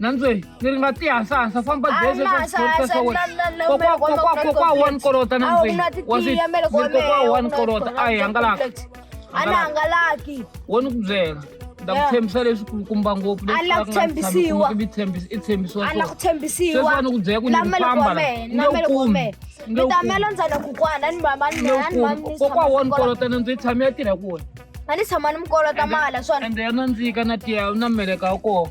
nantswe ni ri nga tihasahansa famba gezi eka xitori xa wena kokwa kokwa kokwa one kolota nantswe wa swi kokwa one kolota a hi hangalaka a ni hangalaki wo ni ku byela ta ku tshembisa leswi kulukumba ngopfu leswitshembisiwasweswani ku byela ku ni famba kokwa wona kolotana ndzi tshame ya tirha ku wena a ni tshama ni mi kolota mali swona ende ya nandzika na tiya na meleka wa kona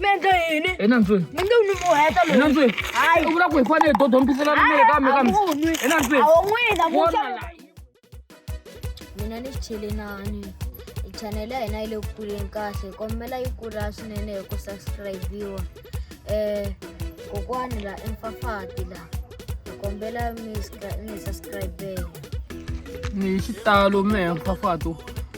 mi endle yini hi nantsweni mi nge n'wi mi heta hi loyi nantsweni Hayi. u vula ku hi fanele hi dodombisela rimere kambe kambe hi nantsweni awo n'wina Wona musa la. mina ni xichelelani chanele ya hina yi le ku kuleni kahle kombela yi kula swinene hi ku subscribiwa um kokwani la emfafati la hi kombela mi subscribela ni hi xitalo mehe mphafato